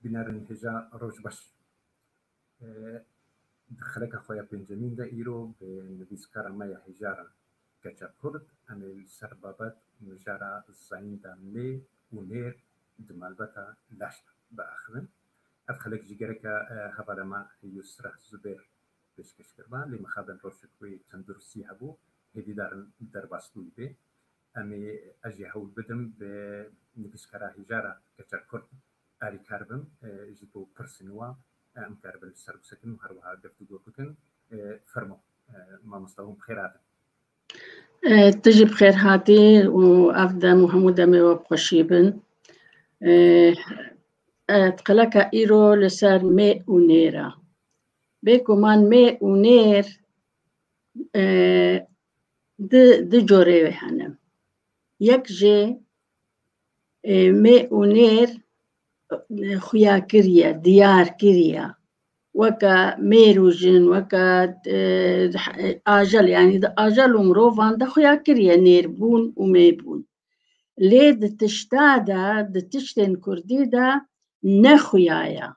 Bînerên hêja roj baş. Di xeleka xwe ya pêncemîn de îro bi nivîskara me ya hêja re Keça Kurd em ê li ser babet mijara zayînda lê û nêr di malbata laş de biaxivin. Ev xelek jî gereka hevalê me Yusreh Zubêr pêşkeş kiriba lê mixabin rojek wê tenduristî hebû hêvîdarin derbas bûyî bê. Em ê ez jî hewl bidim bi nivîskara hîjara keçer kurd alîkar bim ji bo pirsên wan em keribin li ser bisekin û her wiha geftugo bikin. Fermo mamosta hûn bi xêr hatin. Tu jî bi xêr hatî û ev dem û hemû demê we bi xweşî bin. Qeleka îro li ser mê û nêr e. Bêguman mê û nêr Di du corê wê hene. Yek jê mê û nêr xuya kiriye, diyar kiriye. Weke mêr û jin, weke ajel yanî di ajel û mirovan de xuya kiriye nêrbûn û mêbûn. Lê di tişta de, di tiştên kurdî de ne xuya ye.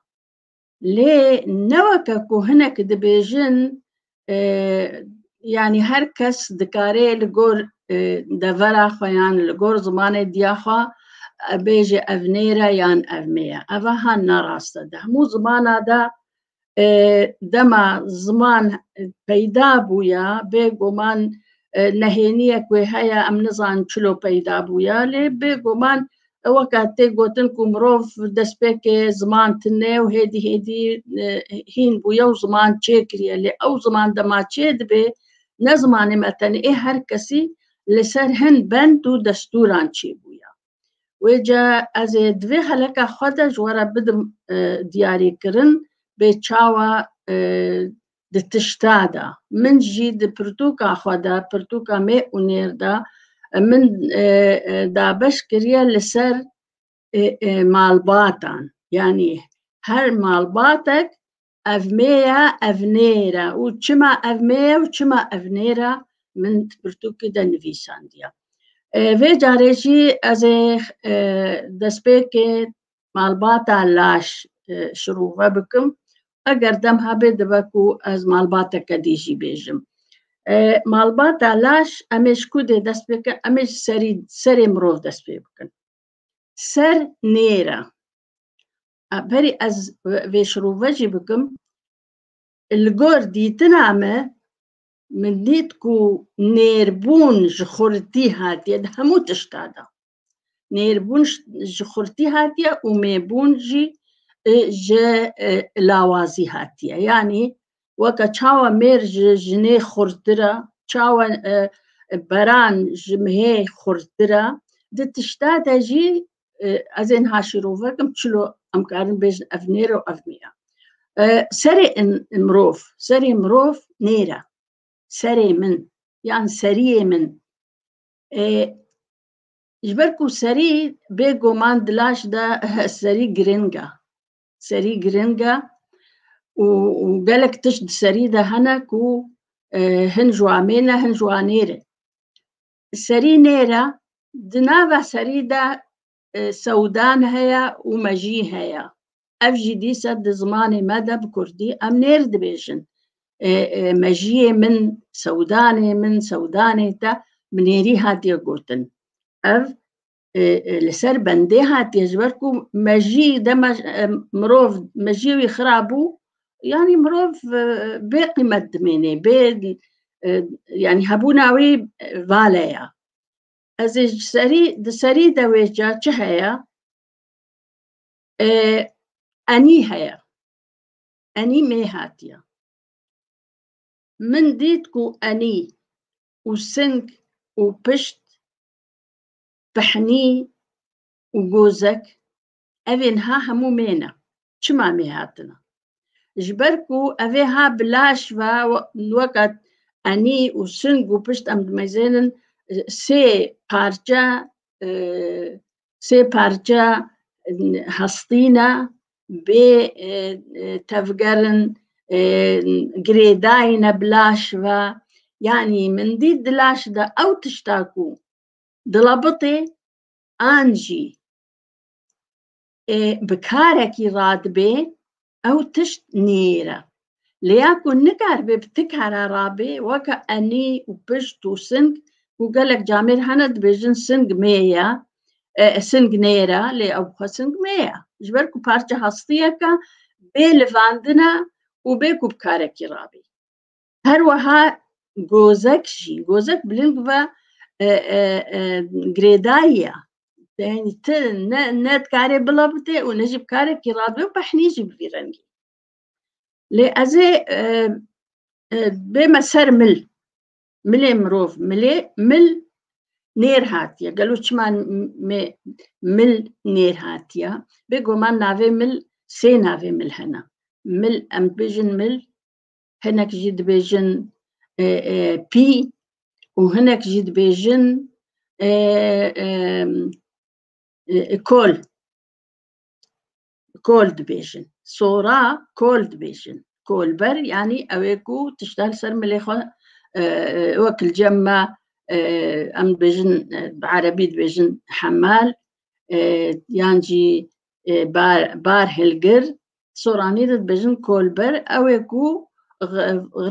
lê ne weke ku hinek dibêjin yanî her kes dikarê li gor devera xwe yan li gor zimanê diya xwe bêje ev nêre yan ev nêye eva han narast e di hemû zimana de dema ziman peyda bûye bêguman nehêniyek wê heye em nizan çilo peyda bûye lê bêguman Ewa ka tê gotin ku mirov destpêkê ziman tune û hêdî hêdî e, hîn bûye û ziman çê kiriye. Lê ew ziman dema çê dibê, ne zimanê me tenê ê her kesî li ser hin bend û destûran çê bûye. Wê ca ez ê di vê heleka xwe de ji we re bidim e, diyarîkirin bê çawa e, di tişta de min jî di pirtûka xwe de pirtûka mê û nêr de min e, e, dabeş kiriye li ser e, malbatan yanî her malbatek ev mê ye ev nêr e û çima ev mê ye û çima ev nêr e min pirtûkî de nivîsandiye vê carê jî ez ê destpêkê malbata laş e, şirûve bikim eger dem hebê dibe ku ez malbateke dî jî bêjim e, malbata laş em ê ji ku dê dest pê bikin em ê ji serî serê mirov dest pê bikin ser nêra e, berî ez vê şirûve jî bikim li gor dîtina me min dît ku nêrbûn ji xurtî hatiye di hemû tişta de Nêrbûn ji xurtî hatiye û mêbûn jî ji lawazî hatiye. Yanî weke çawa mêr ji jinê xurttir e, çawa beran ji mihê xurttir e, di tişta de jî ez ên haşîrovekim çilo em karin bêjin ev nêr û ev nîya. Serê mirov, serê mirov nêr e. Serê min yan seriyê min Ji ber ku serî bê goman di laş de serî girîng e. Serî girîng e û gelek tişt di serî de hene ku e, hin ji wan mêr ne hin ji wan nêr e. Serî nêr e, di nava serî de e, sewdan heye û mejî heye. ev jî dîsa di zimanê me de bi kurdî em nêr dibêjin mejiyê min sewdanê min sewdanê te bi nêrî hatiye gotin ev li ser bendê hatiye ji ber ku mejî de mirov mejiyê wî xirab bû yanî mirov bê qîmet dimênê bê yanî hebûna wî vale ya ez ê ji serî di serî de wê ca çi heye Enî heye. Enî mê hatiye. Min dît ku enî û sing û pişt, pihnî û gozek ev ê niha hemû mê ne. Çima mê hatine? Ji ber ku ev ê ha bi laş ve weke enî û sing û pişt em dimezênin sê parçe Sê parça hestîna bê tevgerin girêdayîne bi laş ve yanî min dît di laş de ew tişta ku dila bitê an jî ê bi karekî radibê Ew tişt niyêr e. Lê ya ku nikaribê bi ti kara rabê weke enî û pişt û sing ku gelek camêr hene dibêjin sing mê ye, sing nêr e lê ew xwe sing mê ye. Ji ber ku parçe hastiyeke bê livandin e û bê ku bi karekî rabî. Her weha gozek jî gozek bilind ve girêdayiya yani ti ne ne dikarê bila bite û ne jî bi karekî rabe û behnî jî bi vî rengî lê ez ê bême ser mil milê mirov milê mil nêr hatiye gelo çima me mil nêr hatiye bêgoman navê mil sê navê mil hene mil em bijin mil hinek jî dibêjin pî û hinek jî dibêjin kol kol dibêjin sora kol dibêjin kolber yanî ew ê ku tişta li ser milê xwe wek li cem me em dibêjin bi erebî dibêjin hemel yan jî bar hilgir Soranî dibêjin kolber ew ê ku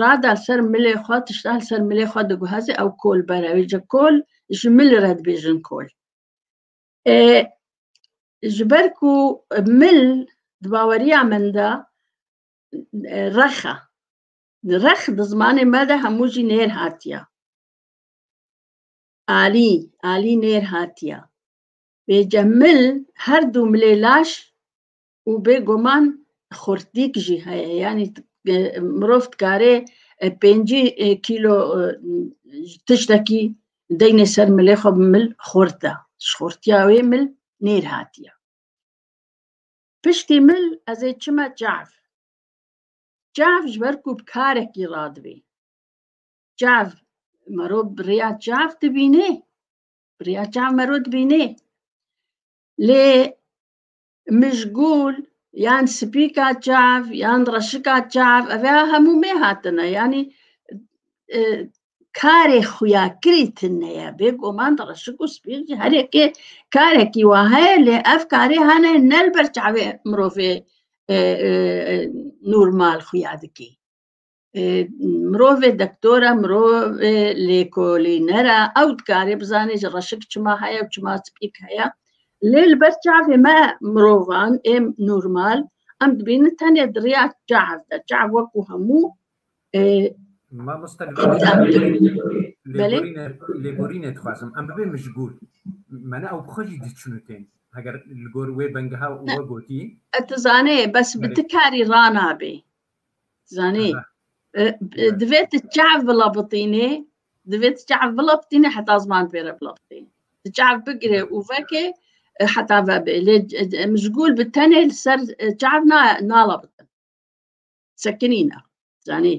rada ser milê xwe tişta li ser milê xwe diguhezê ew kolber ew ji kol ji mil re dibêjin kol. Ji ber ku mil di baweriya min de rexa rex di zimanê me de hemû jî nêr hatiye. Alî alî nêr hatiye. Bêje mil her du milê laş û bêguman xurtdîk jî heye yanî mirov dikarê pêncî kîlo tiştekî deynê ser milê xwe bi mil xurt da ji xurtiya wê mil nêr hatiye piştî mil ez ê çime çav çav ji ber ku bi karekî radibê çav mero birêya çav dibînê birêya çav mero dibînê lê mijgûl yan spîka çav yan reşika çav ev ya hemû mê hatine yanî e, karê xuya kirî tine ye bêguman reşik û spîk jî herêkê karekî wa heye lê ev karê hene nel ber çavê mirovê e, e, normal xuya dikî mirovê dektora mirovê lêkolînera ew dikarê bizanê ji reşik çima heye û çima spîk heye lê li ber çavê me mirovan ê normal em dibînin tenê di rêya çav de çav wekû hemû lêborînê dixwazim em bibê mijbûr mene ew bixwe jî diçin û tên heger li gor wê bengeha we gotî e tu zanê bes bi tu karî ranabê Zanî divê tu çav bila bitînê divê tu çav bila bitînê heta ziman pê re bila bitînê tu çav bigirê û vekê heta vebê lê mizgûl bi tenê li ser çav nala bitin sekinîna zanî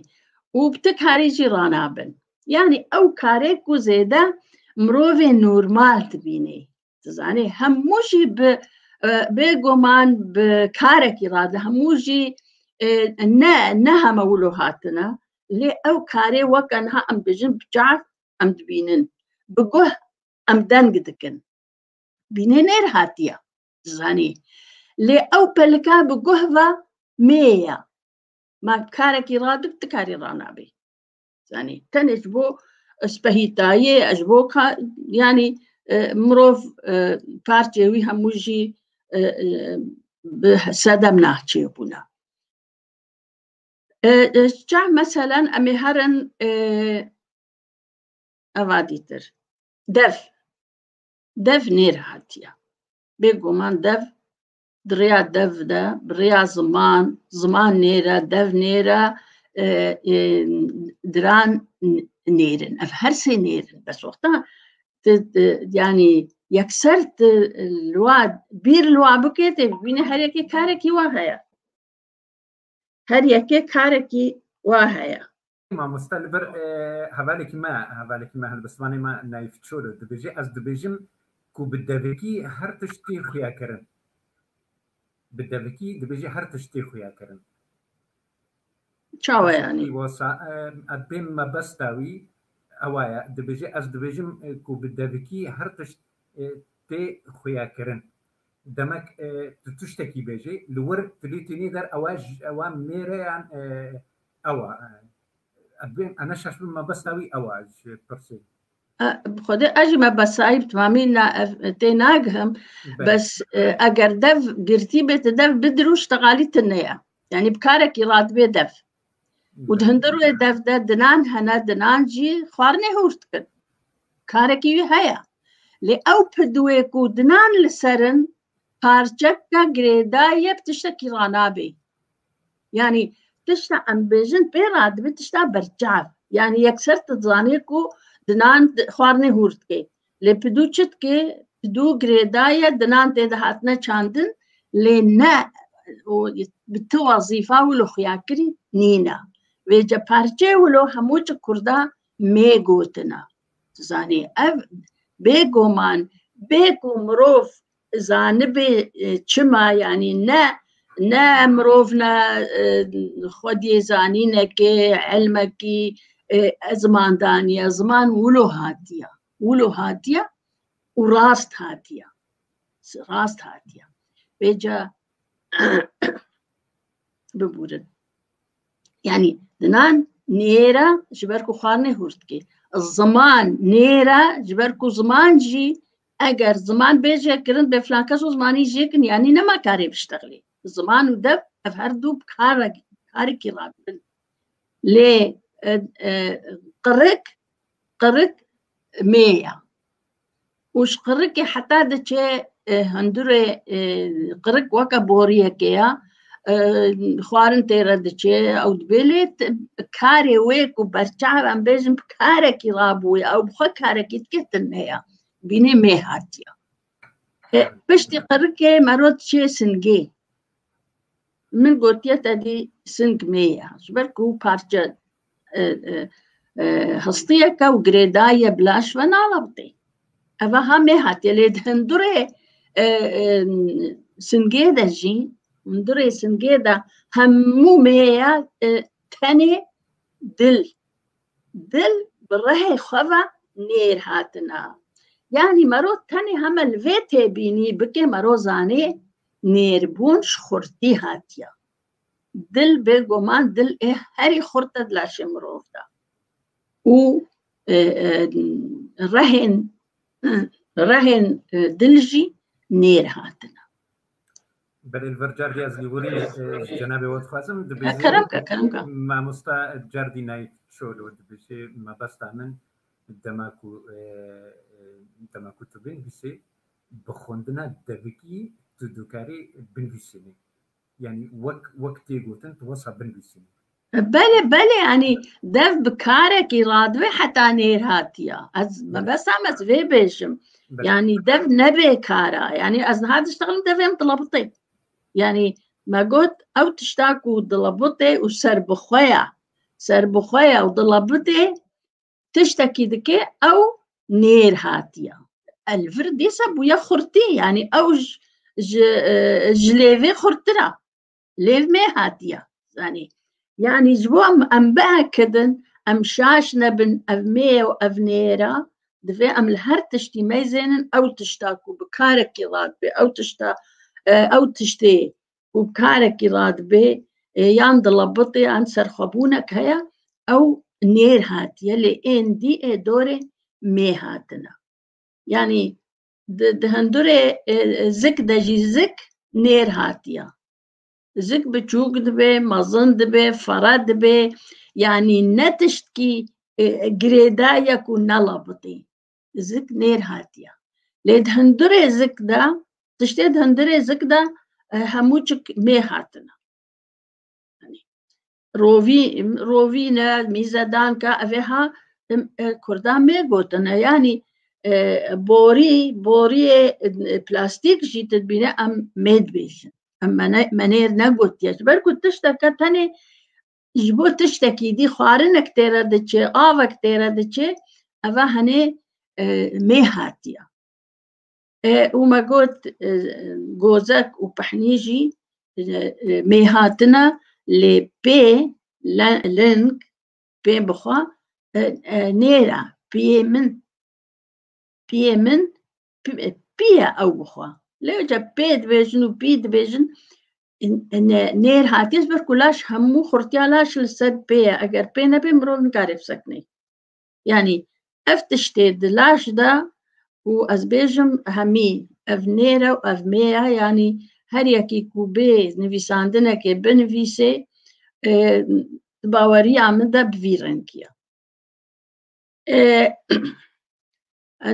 û bi ti karî jî ranabin yanî ew karê ku zêde mirovê normal dibînê dizanê hemû jî bi bêguman bi karekî radi hemû jî ne ne heme wilo hatine lê ew karê weke niha em dijin bi çar em dibînin bi guh em deng dikin bînê nêr hatiye dizanî lê ew pelika bi guh ve mêye ma karekî radib ti karî ranabî Zanî tenê ji bo spehîtayê ji bo yanî mirov parçê wî hemû jî bi sedem nahçê bûna. Çah meselen em ê herin eva dîtir. Dev dev nêrehatiya. Bêguman dev di rêya dev de, bi rêya ziman, ziman nêre, dev nêre, e, e, diran nêrin. Ev her sê nêrin. Bes wexta yani yekser lwa bir lwa bike tê bîne her yekê karekî wa heye. Her yekê karekî wa heye. Mamoste li vir hevalekî me hevalekî me li bi zimanê me Naif Çolo dibêje ez dibêjim ku bi devikî her tişt tê xuyakirin. Bi devikî dibêje her tişt tê xuyakirin. Çawa yanî? Wasa ez bên mebesta wî ewa ye dibêje ez dibêjim ku bi devikî her tişt tê xuyakirin. Demek tu tiştekî bêjî li wir tu lê tênê der ewa ewa mêreyan Ewa, ez bim, ana şaş bim ma besa wî ewa ji pirsê. Bi xwedê ez jî me besayî bi temamî na ev tê nagihim bes eger dev girtî bê ti dev bi dirûş teqalî tine ye. Yani bi karekî radibê dev. Û di hindir wê dev de dinan hene dinan jî xwarinê hûr dikin. Karekî wî heye. Lê ew pidwê ku dinan li serin Parçeka girêdayî bi tiştekî re nabê. Yanî tişta em bêjin pê re dibe tişta berçav. Yanî yekser tu dizanî ku dinan xwarinê hûr dike. Lê pidû çi dike? Pidû girêdaye dinan tê de hatine çandin lê ne bi ti wezîfa wilo xuyakirî nîne. Vê ce parçeyê wilo hemû ji kurda mê gotina. Tu zanî ev bêguman bê ku mirov zanibê çima yanî ne ne mirov ne xwediyê zanînekê elmekî ziman daniye ziman wilo hatiye wilo hatiye û rast hatiye rast hatiye bêca bibûrin yani dinan nêra ji ber ku xwarinê hûr dikê ziman nêra ji ber ku ziman jî eger ziman bêje kirin bê filan kes û zimanî jêkin yanî nema karê biştexlê ziman û dev ev her dû karekî rabin lê qirik qirik mêya û ji qirikê heta diçe e, hundirê e, qirik weke boriyekê ya e, xwarin tê re diçe ew dibê lê t- karê wê ku berçav em bêjin bi karekî rabûye ew bi xwe karekî dike din neya bînê mê hatiya E, piştî qirikê mero diçe singê min gotiye te dî sing mê ye ji ber ku parçe histiyeke û girêdayî bi laş ve nalabitê. Eva ha mê hatiye lê di hundirê singê de jî hundirê singê de hemû mêye tenê dil. Dil bi rehê xwe ve nêr hatina. Yanî mero tenê heme li vê têbînî bikê mero zanê nêrbûn ji xurtî hatiye. Dil bê goman dil ê herî xurt e di laşê mirov de û rehên rehên dil jî nêr hatine. Belê li vir Cerdî ez lîborî cenabê we dixwazim dibêjim. Kerem ke kerem ke. Mamosta Cerdî nayî şolo dibêjê mebesta min dema ku dema ku tu bênivîsî bi xwendina devikî tu dikarî binivîsînî. Yanî wek wek tê gotin tu wasa binivîsînî. Bele bele yanî dev bi karekî radibe heta nêr hatiya. Ez mebesam ez vê bêjim. Yanî dev nebê kara. Yanî ez niha diştixilim devêm dilabitê. Yanî me got ew tişta ku dilabitê û serbixwe ya. Serbixwe ya û dilabitê tiştekî dike ew nêr hatiye el vir dêsa bûye xurtî yanî ew ji ji lêvê xurttir e lêv mê hatiye zanî yanî ji bo em em bihekidin em şaş nebin ev mê ew ev nêra divê em li her tiştî meyzênin ew tişta ku bi karekî rat bê ew tişta ew tiştê û karekî radibê yan dilebitê yan serxwebûnek heye ew nêr hatiye lê ên dî ê dorê mê hatine yanî di hindurê zik de jî zik nêr hatiye zik biçûk dibê mezin dibê fere dibê yanî ne tiştkî girêdayek û nelebitî zik nêr hatiye. Lê di hundirê zik de tiştê di hundirê zik de e, hemû çik nê hatine. Rovî rovîne mîzedanka ev ê ha e, kurda mê gotine yanî e, borî boriyê plastîk jî dibîne em mêd bêjin. Em menêr negotiye ji ber ku tişteke tenê ji bo tiştekî dî xwarinek tê re diçe avek tê re diçe eva henê e, mê hatiya e, û me got e, gozek û pihnî jî mê hatina lê pê ling pê bixwa nêra piyê min piyê min pîya ew bixwe lê ca pê dibêjin û pî dibêjin nêr hatiye ji ber ku laş hemû xurtiya laş li ser pê ye eger pê nebê mirov nikare bi seknê yanî ev tiştê di laş de û ez bêjim hemî ev nêre û ev mê ye yanî her yekî ku bê nivîsandinekê binivîsê baweriya min de bi vî rengiya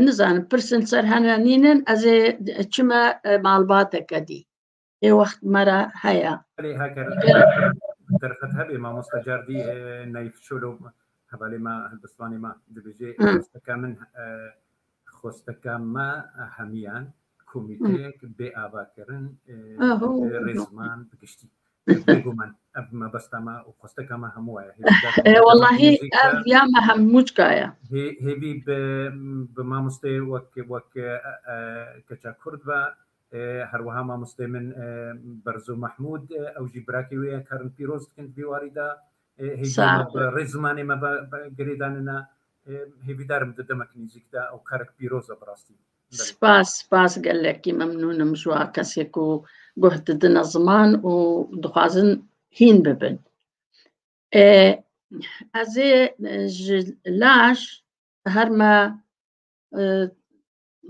Nizanim pirsin ser hene nînin ez ê çime malbateke dî. Ê wext me re heye. Erê heker derxet hebê mamosta cardî nayîf şolo hevalê me hilbistanê me dibêjê xwesteke min xwesteke me hemiyan. komîteyek bê avakirin rêzman bi giştî bêguman ev mebesta me û xwesteka me hemû waya wellahî ev ya me hemûcka ye hêvî bi mamostê wek wek keça kurd ve her wiha mamostê min berzo mahmûd ew jî birakê wê ye karin pîroz dikin di vî warî de rê zimanê me girêdanine hêvîdarim di demek nêzîk de ew karek pîroz e bi rastî Spas, spas gelekî memnûn im ji wa kesê ku guh didine ziman û dixwazin hîn bibin. Ez ê ji laş her me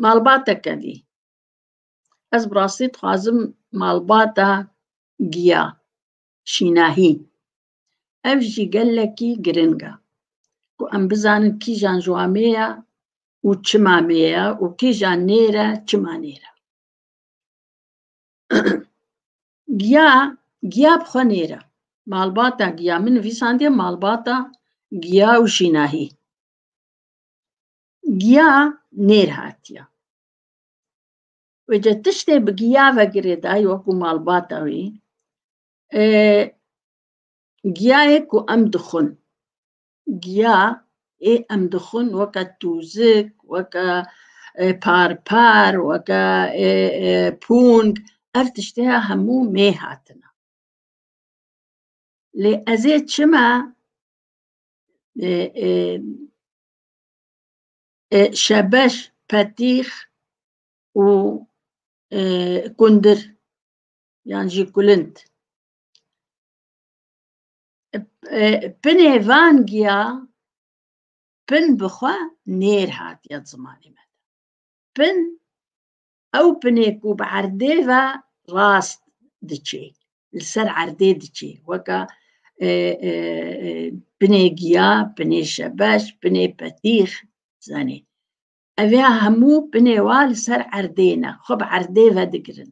malbatek kedî. Ez bi rastî dixwazim malbata giya, şînahî Ev jî gelekî giring e ku em bizanin kîjan ji wan mê ye û çima mê ye û kîjan nêre çima nêre. Giya giya bi xwe nêre. Malbata giya min nivîsandiye malbata giya û jînahî. Giya nêr hatiye. Wê de tiştê bi giya ve girêdayî wekû malbata wî Giyayê ku em dixwin, giya ê em dixwin weke tûzik, weke parpar, weke pûng, ev tiştê ya hemû mê hatine. Lê ez ê çima şebeş, petîx û kundir yan jî kulind. Pinê van giya pin bi xwe nêr hatiye zimanê me. Pin ew pinê ku bi erdê ve rast diçê, li ser erdê diçê weka pinê giya, pinê şebeş, pinê petîx zanê. Ev ya hemû pinê wa li ser erdê ne, xwe bi erdê ve digirin.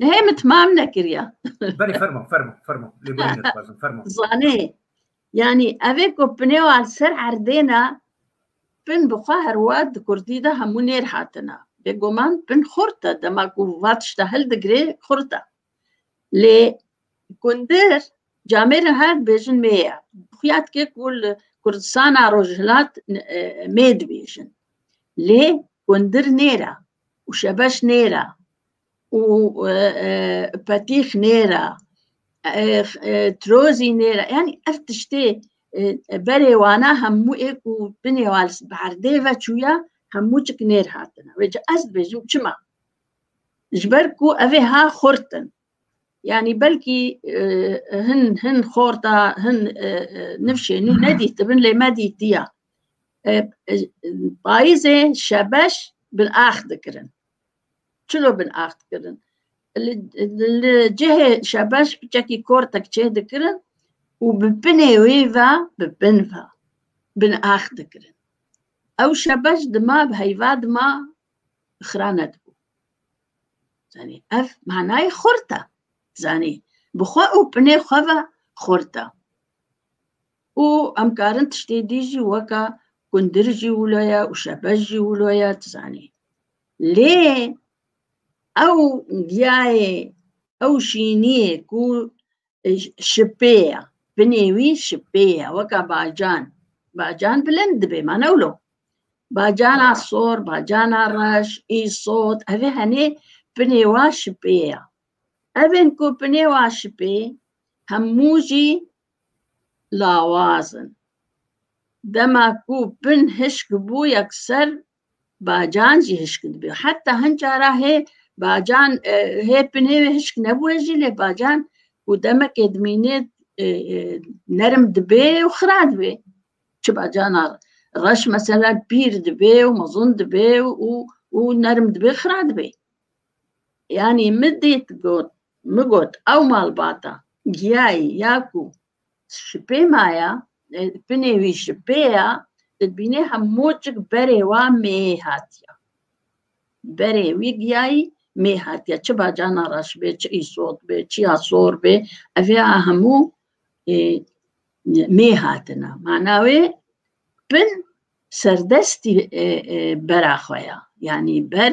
Nehê min timam nekiriya. Berê fermo fermo fermo lê berê nedixwazim fermo. Zanê yanî evê ku pinê wan ser erdêna pin bi xwe herwa di kurdî de hemû nêr hatina. Bêguman pin xurt e dema ku va tişta hildigirê xurt e. Lê kundir camêrin her dibêjin mê ye. Xuya dike ku li Kurdistana Rojhilat mê dibêjin. Lê kundir nêra û şebeş nêra û petîx nêra trozî nêra yanî ev tiştê berê wana hemû ê ku binê wan li erdê ve çûye hemû çik nêr hatine wê ca ez dibêjim çima ji ber ku ev ê ha xurt in yanî belkî hin hin xorta hin nifşê nû nedîtibin lê me dîtiya payizê şebeş bi ax dikirin çilo bin ax dikirin. Li cihê şebeş çekî kortek çê dikirin û bi binê wê ve bi bin ve bin ax dikirin. Ew şebeş dima bi heyva dima xira nedibû. Zanî ev manayê xort e. Zanî bi xwe û binê xwe ve xort e. Û em karin tiştê dî jî weka kundir jî wilo ye û şebez jî wilo ye tu zanî. Lê ew giyayê, ew şîniyê ku şipê ye, binê wî şipê ye weka bacan. Bacan bilind dibe ma ne wilo. Bacana sor, bacana reş, îsot, evê henê binê wan şipê ye. Evên ku pinê wa şipê hemû jî lawaz in. Dema ku pin hişk bû yekser bacan jî hişk dibû. Heta hin cara hê bacan hê pinê wê hişk nebûye jî lê bacan ku demekê dimînê nerim dibê û xira dibê. Çi bacana reş meselen pîr dibê û mezin dibê û û nerim dibê xira dibê. Yanî min dît got, min got ew malbata giyayî ya ku şipê ma ya, pinê wî şipê ya, dibînê hemûcik berê wa mêyê hatiya. Berê wî giyayî mêyê hatiya. Çi bacana reş bê, çi îsot bê, çi ya sor bê, evê a hemû mêyê hatine. Mana wê pin serdestî bera xwe ya. Yanî ber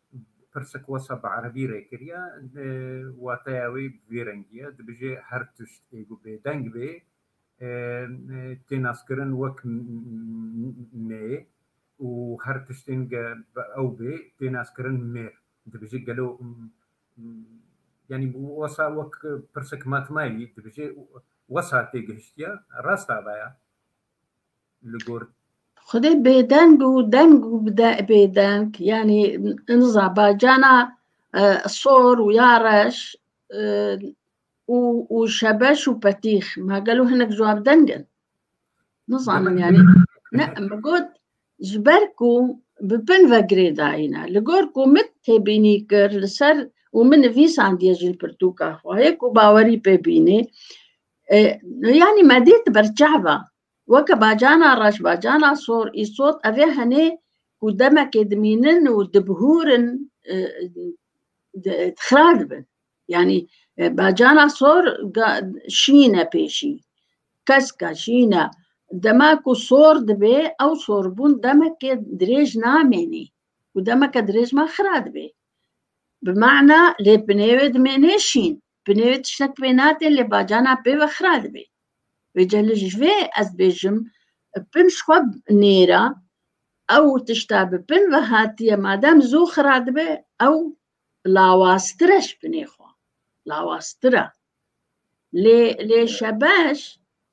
Pirsik wisa bi erebî rê kiriye, wateya wê bi vî rengî ye, dibêje her tişt ê ku bêdeng bê tê naskirin wek mê û her tiştên ge bi ew bê tê naskirin mêr. Dibêje gelo yanî wisa wek pirsik matmayî dibêje wisa tê gihiştiye, rast a vaya? Xwedê bêdeng û deng û bêdeng yanî niza bacana sor û ya reş û û şebeş û petîx ma gelo hinek ji wan deng in? Nizanim yanî ne min got ji ber ku bi bin ve girêdayîne li gor ku min têbînî kir li ser û min nivîsandiye ji li pirtûka xwe hê ku bawerî pê bînî Yanî me dît ber çehva. Weke bacana reş bacana sor îsot evê henê ku demekê dimînin û dibihûrin xira dibin. Yanî bacana sor şîn e pêşî. Keska şîn e. Dema ku sor dibê ew sorbûn demekê dirêj namênî û demeke dirêj ma xira dibê. Bi mana lê binêwê dimênê şîn. Bi nêvê tiştek pê nate lê bacana pê ve xira dibê. Wê celê ji vê ez dibêjim pin ji xwe nêra ew tişta bi pin ve hatiye madem zû xira dibe ew lawaztir e ji pinê xwe. Lawaztir e. Lê lê şebeş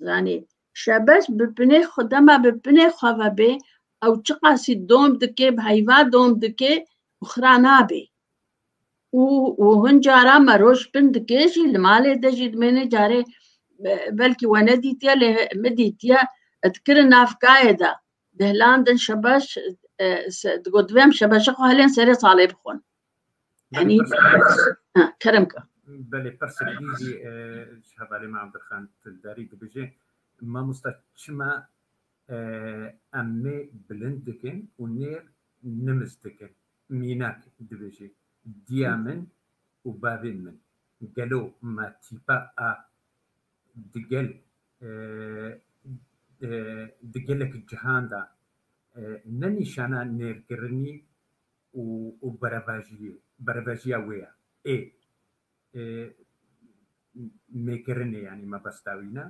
zanî şebeş bi pinê xwe dema bi pinê xwe ve bê ew çiqasî dom dike bi heyva dom dike û xira nabê. û û hin cara me roj bin dikê jî li malê de jî dimêne carê belkî we nedîtiye lê min dîtiye dikirin navkayê de dihlandin şebeş digot divêm şebeşa xwe helên serê salê bixwin yanî kerem ka Belê pirsê dîjî ji hevalê me Abdulxan Tildarî dibêje mamosta çima em nê bilind dikin û nê nimis dikin Mînak dibêje, Diya min û bavên min gelo ma tîpa a di gel di gelek cihan de ne nîşana nêrkirinî û beravajiyê berevajiya wê ye. Ê. nêkirinê yanî me bes dawîne.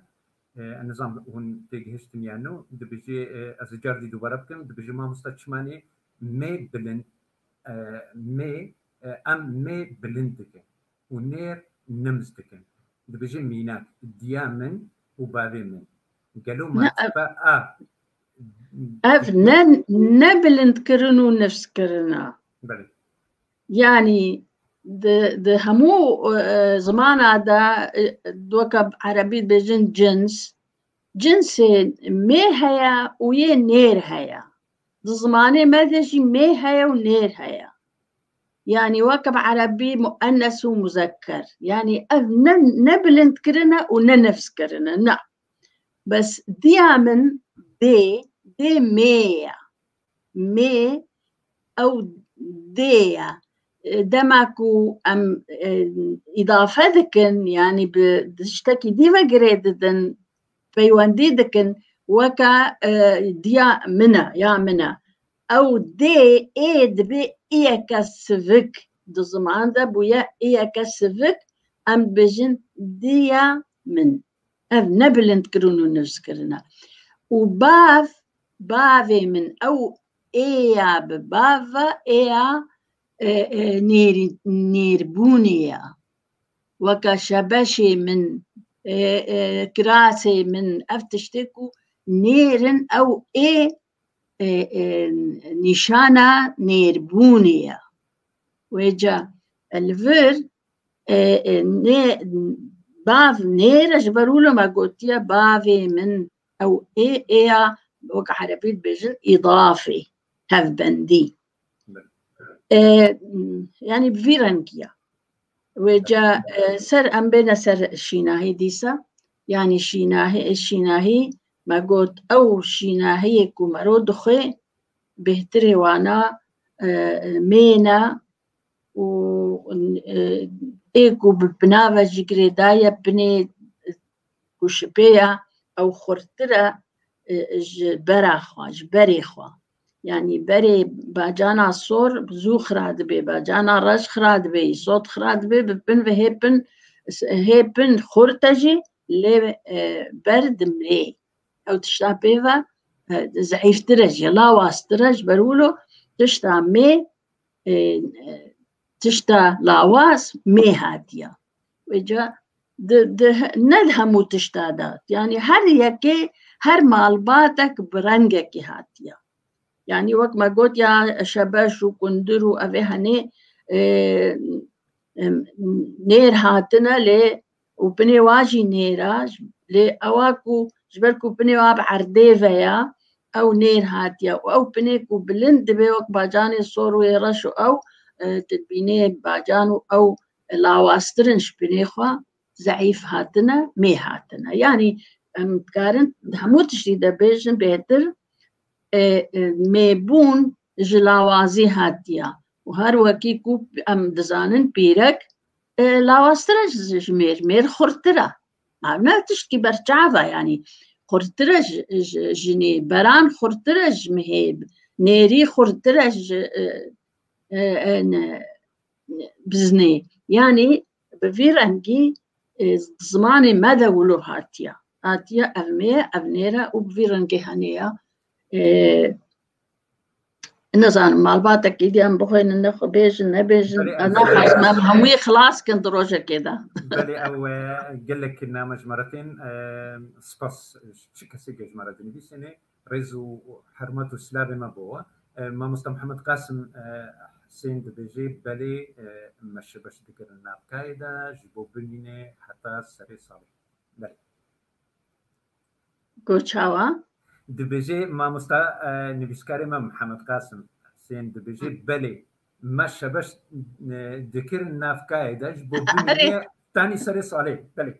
Nizam hûn têgihiştin ya no dibijê ez ji cardî dubare bikim dibijê mamosta çimanê mê bilind mê em mê bilind dikin û nêr nims dikin. Dibijê mînak diya min û bavê min gelo ma tibe a ev ne ne bilind kirin û nifs kirina. Belê. Yanî di hemû zimana de weke erebî dibêjin cins, cinsê mê heye û yê nêr heye. Di zimanê me de jî mê heye û nêr heye. Yanî weke bi erebî muennes û muzeker. Yanî ev ne ne bilindkirin e û ne nifskirin e na. Bes diya min dê, dê mê ye. mê ew dê ye. Dema ku em îdafe dikin yanî bi tiştekî dî ve girê didin peywendî dikin weke diya min e ya min e ew dê ê dibê iyeke sivik di ziman de bûye iyeke sivik em dibêjin diya min. Ev ne bilindkirin û nivzkirin e. Û bav, bavê min ew ê ya bi bav ve ê ya nêrî nêrbûnê ya. Weke şebeşê min, kirasê min ev tiştê ku nêr in ew ê nîşana nêrbûnê ye. Wê ca li vir bav nêr e ji ber wilo me gotiye bavê min ew ê ê ya wek erebî dibêjin îdafê hevbendî. yani bi vî rengiya wê ca ser em bêne ser şînahî dîsa yani şînahî şînahî me got ew şînahiyê ku mero dixwê bêhtirê wana mêna û ê ku bi binave jî girêdaye binê ku şipêya ew xurtire ji bera xwe ji berê xwe Yani berê bacana sor zû xira dibê, bacana reş xira dibê, îsot xira dibê, bi pin ve hê pin hê pin xur te jî lê e, ber dimrê. Ew tişta pê ve e, zeîftir e jî, lawastir e ji ber wilo tişta mê e, e, Tişta lawaz mê hatiya. Wêca ne li hemû tişta de yanî her yekê her malbatek bi rengekî hatiya. Yanî wek me got ya şebeş û kundir û ev ê henê nêr hatine lê û binê wa jî nêr a, lê ewa ku ji ber ku binê wa bi erdê ve ya, ew nêr hatiye û ew binê ku bilind dibe wek bacanê sor û yê reş û ew di binê bacan û ew lawaztir in ji binê xwe, zeîf hatine, mê hatine. Yanî em dikarin di hemû tiştî de bêjin bêhtir e, mêbûn ji lawazî hatiye û her wekî ku em dizanin pîrek, Lawaztir e ji mêr, mêr xurttir e. Ev ne tiştî berçav e yanî. Xurttir e ji jinê, beran xurttir e ji mihê, nêrî xurttir e ji biznê. Yanî bi vî rengî zimanê me de wilo hatiye. Hatiye ev mêr e, ev nêr e û bi vî rengê hene ye. Nizanim malbatek îdiyan bixwînin ne xwe bêjin nebêjin naxwazim em hemû yê xilas kin di rojekê de. Belê ew gelek name ji me re tên spas ji çi kesêke ji me re dinivîsînê rêz û hermet û silavê me bo we. Mamosta Mihemed Qasim Husên dibêjê belê me şi beş dikirin navkayê de ji bo bimîne heta serê salê. Belê. Got çawa? Dibêje mamosta nivîskarê me Mihemed Qasim Husên dibêje belê me şebeş dikirin navkayê de ji bo bûnê tanî serê salê belê.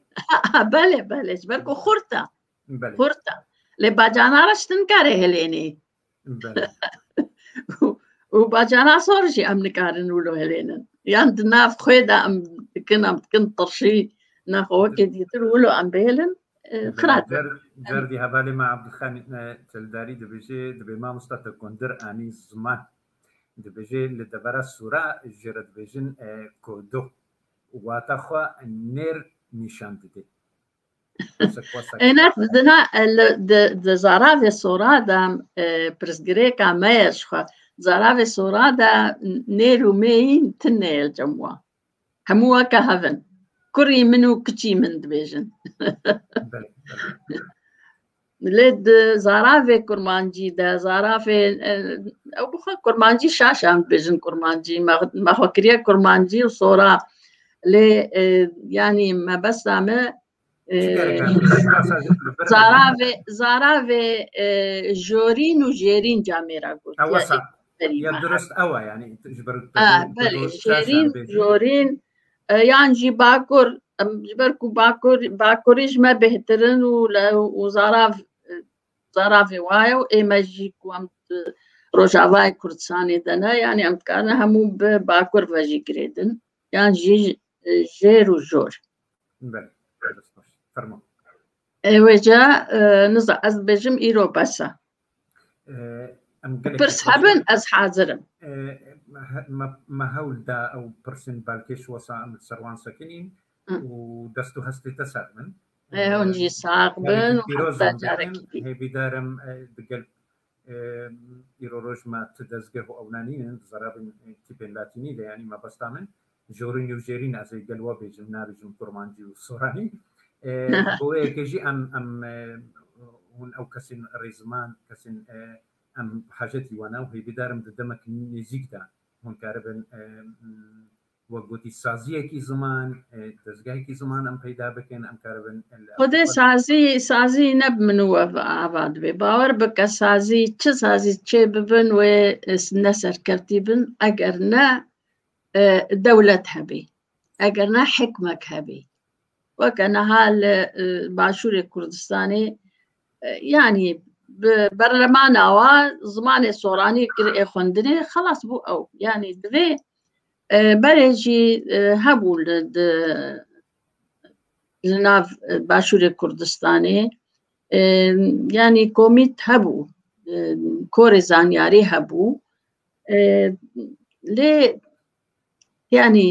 Belê belê ji ber ku xurt e. Xurt e. Lê bacana re ji tin kare hilênê. û bacana sor jî em nikarin û lo helênin yan di nav xwê de em dikin em dikin tirşî naxwe wekê dîtir û lo em bêlin xirat Cerdî hevalê me Abdulxanî Çeldarî dibêjê dibê mamosta te kundir anî ziman dibêjê li devera sura ji re dibêjin kodo wata xwe nêr nîşan didê Enak dina di zaravê sora de pirsgirêka me ye ji xwe. Zaravê sora de nêr û mêyîn tune ye li cem wan. Hemû weke hev in. Kurî min û kiçî min dibêjin. Lê di zaravê kurmancî de zaravê ew bi xwe kurmancî şaş em dibêjin kurmancî me xwe kiriye kurmancî û sora lê yanî mebesta me zaravê zaravê jorîn û jêrîn camêra got ya durust ew yani ji ber belê jêrîn jorîn Yan jî bakur ji ber ku bakur bakurî ji me bêhtirin û û zarav zaravê wa ye û ê me jî ku em rojavayê Kurdistanê de ne yanî em dikarin hemû bi bakur ve jî girêdin yan jî jêr û jor. Ew ê ca niza ez dibêjim îro bes e. Pirs hebin ez hazir im. Me hewl da ew pirsên belkê ji wesa em li ser wan sekinîn û dest û hestê te ser bin. Hûn jî sax bin û heta carekî din. Hêvîdar im di gel îro roj me ti dezgeh û ewna nînin di zerabên tîpên latînî de yanî mebesta min Jorin û Jêrîn ez ê gel wa bêjim nabêjim Kurmancî û Soranî bo wê yekê jî em em hûn ew kesên rêziman kesên em bi hajetî wan e û hêvîdar im di demek nêzîk de hûn karibin wek gotî saziyekî ziman dezgehekî ziman em peyda bikin em karibin Xwedê sazî sazî ne bi min û we ava dibê bawer bike sazî çi sazî çê bibin wê ne serkevtî bin eger ne dewlet hebê eger ne hikmek hebê weke niha li başûrê Kurdistanê yanî bi berlemana wa zimanê soranî kir ê xwendinê xelas bû ew yanî divê berê jî hebû li li nav başûrê Kurdistanê yanî komît hebû korê zanyarî hebû lê yanî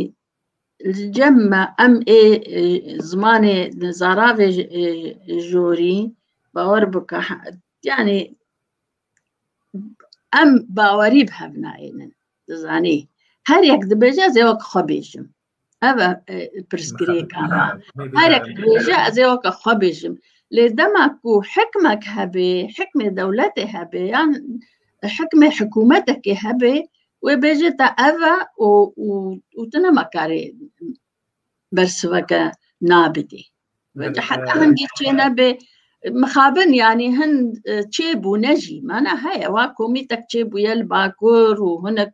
li cem me em ê zimanê li zaravê jorî bawer bike yanî em bawerî bi hev nayênin dizanî her yek dibêje ez ê wek xwe bêjim Ev e pirsgirêka me. Herek rêje ez ê weke xwe bêjim. Lê dema ku hikmek hebê, hikmê dewletê hebê yan hikmê hikûmetekê hebê, wê bêje te ev e û û tu nema karê bersiveke nabidî. Weke heta hin dî çê nebê mixabin yanî hin çêbûne jî mana heye wa komîtek çêbûye li Bakur û hinek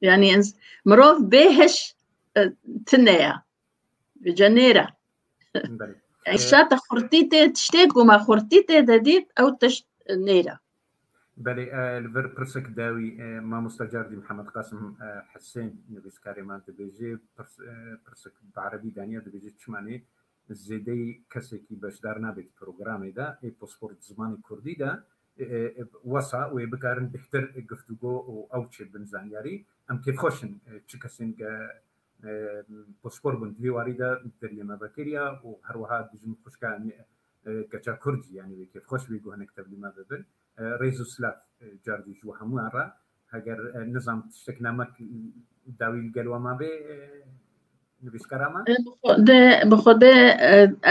Yani ins mirov bê hiş e, tine ya. Bice nêre. Belê. Yani şata xurtî tê tiştê ku me xurtî tê de dît ew tişt e, nêre. Belê e, li vir pirsek dawî e, mamosta cardî Mihemed Qasim e, Hesên nivîskarê me dibêje pirs- e, pirsek bi erebî daniye dibêje çima nê Bi zêdeyî kesekî beşdar nabêt programê de ê posport di zimanê kurdî de wesa wê bikarin bêhtir guftûgo û ew çê bin zanyarî. Em kêfxweş in çi kesên ke posport bûn di vê warî de deriyê me vekiriya û her wiha dijmin xwişka keça kurd jî yanî wê kêfxweş bê ku hinek tevlî me bibin. Rêz û silav cardî ji we hemûyan re. Heger nizam tiştek namek dawî li gel wan mabê nivîskara me? Bi xwe de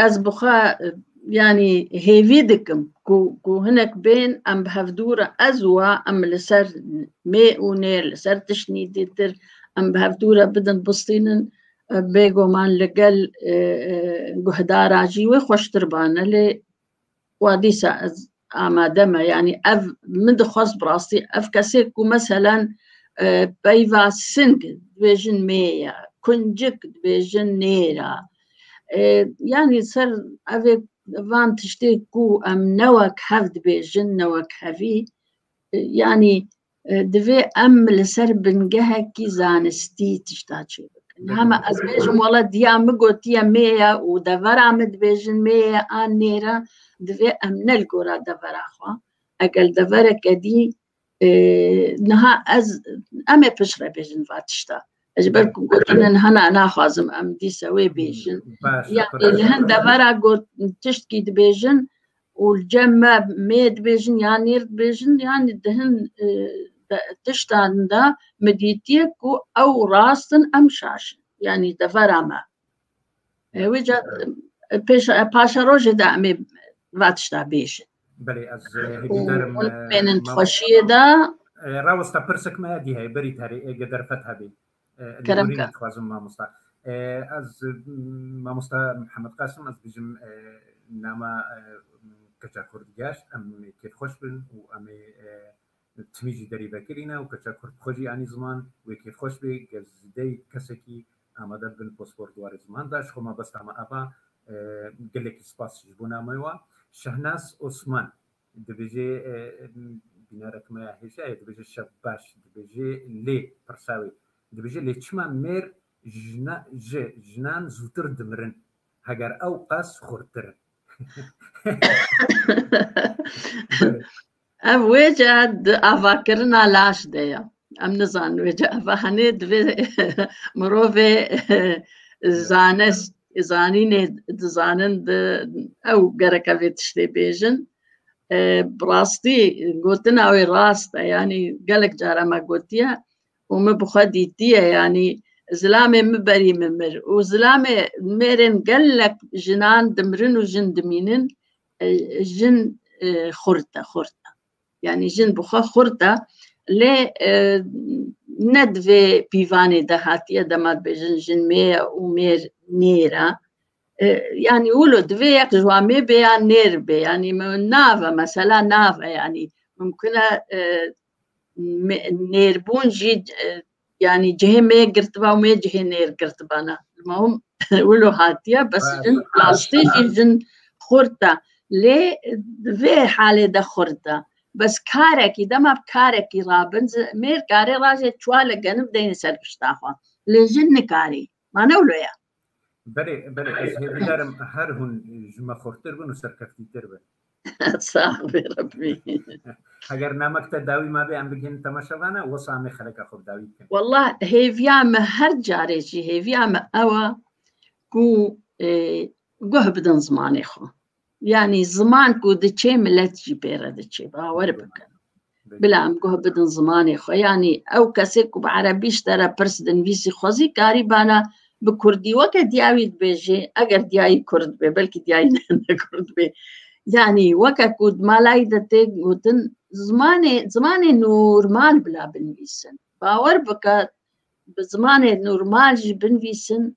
ez bi xwe yanî hêvî dikim ku ku hinek bên em bi hev dûr e ez û we em li ser mê û nê li ser tiştî dîtir em bi hev dûr e bidin bistînin bêguman li gel guhdara jî wê xweştir bane lê Wa dîsa ez amade me yanî ev min dixwest bi rastî ev kesê ku meselen e, peyva sing dibêjin mê ye, kuncik dibêjin nêr e. E, yanî ser evê van tiştê ku em newek hev dibêjin, newek hevî e, yanî Divê em li ser bingehekî zanistî tişta çê bikin. Hema ez bêjim wala diya min gotiye mêye û devera min dibêjin mêye an nêre divê em ne li gora devera xwe egel deverek edî niha ez em ê piştre bêjin va tişta. Ez ji ber ku gotinin hena naxwazim em dîse wê bêjin. Yan li hin devera got tiştkî dibêjin û li cem me mê dibêjin yan nêr dibêjin yanî di hin tiştan de min dîtiye ku ew rast in em şaş in yanî devera me wê ca paşerojê de em ê va tişta bêjin Belê ez hêvîdarim mênin xweşiyê de. Rawesta pirsek me dî heye berî terê ê ge derfet hebê. Kerem ka. Xwazim mamosta. Ez mamosta Muhammed Qasim ez dijim nama keça Kurd ger em kêf xweş bin û em ê timî jî derî vekirîne û keça Kurd xwe jî anî ziman wê kêf xweş bê gel zîdeyî kesekî amade bibin pospor di warê ziman de ji xwe mabesta me ava gelekî spas ji bo nameyê we. Şehnaz Osman. Dibêje bînerek me ya hêja ye dibêje şev baş dibêje lê pirsa wê dibêje lê çima mêr jina ji jinan zûtir dimirin heger ew qas xurtir in. Ev wê cih di avakirina laş de ye. Em nizanin wê cevahane divê mirovê zanest zanînê dizanin di ew gereke vê tiştê bêjin. Bi rastî gotina wê rast e yanî gelek cara me gotiye û min bi xwe dîtiye yanî zilamê min berî min mir û zilamê mêrên gelek jinan dimirin û jin dimînin jin xurt e xurt e. yanî jin bi xwe xurt da lê ne di vê pîvanê de hatiye dema dibêjin jin mê ye û mêr nêr e yanî wilo divê yek ji wan mê bê yan nêr bê yanî nave mesela nave yanî mimkune nêrbûn jî Yani cihê me yek girtiba û me cihê nêr girtiba na. Ma hûn wilo hatiye bes jin rastî jî jin xurt e. Lê di vê halê de xurt e. Bes karekî dema bi karekî rabin mêr karê rajê çiwa li genib deyne ser pişta xwe. Lê jin nikarî. Ma ne wilo ye. Belê, belê ez hê bidarim her hûn ji me xurttir bin û serkeftîtir bin. Sağ be Rabbi. Heger namek te dawî mabê em bigihîn temaşa vana wisa em ê xeleka xwe bi dawî bikin. Wallah hêviya me her carê jî hêviya me ew e ku e, guh bidin zimanê xwe. Yanî ziman ku diçê milet jî pê re diçê bawer bikin. Bila em guh bidin zimanê xwe yanî ew kesê ku bi erebî ji te re pirs dinivîsî xwezî karî bana bi kurdî weke diyawî dibêjê eger diyayî kurd bê belkî diyayî ne kurd bê. Yanî weke ku di malayî de tê gotin zimanê zimanê normal bila binivîsin. Bawer bike bi zimanê normal jî binivîsin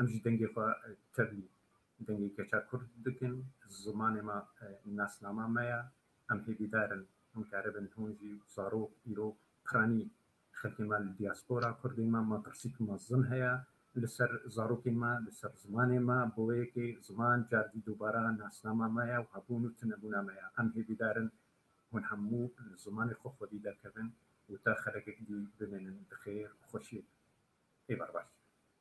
Em jî dengê xwe tevlî dengê keça kurd dikin. Zimanê me nasnama me ye. Em hêvîdar in hûn keribin, hûn jî zarok, îro, piranî xelkê me li dîaspora kurdê me metirsîk mezin heye li ser zarokên me, li ser zimanê me. Bi wê yekê ziman cardî dubara nasnama me ye û hebûn û tunebûna me ye. Em hêvîdar in hûn hemû li zimanê xwe xwedî derkevin û te xelekek dî bimînin bi xêr û xweşiyek. Êvar baş.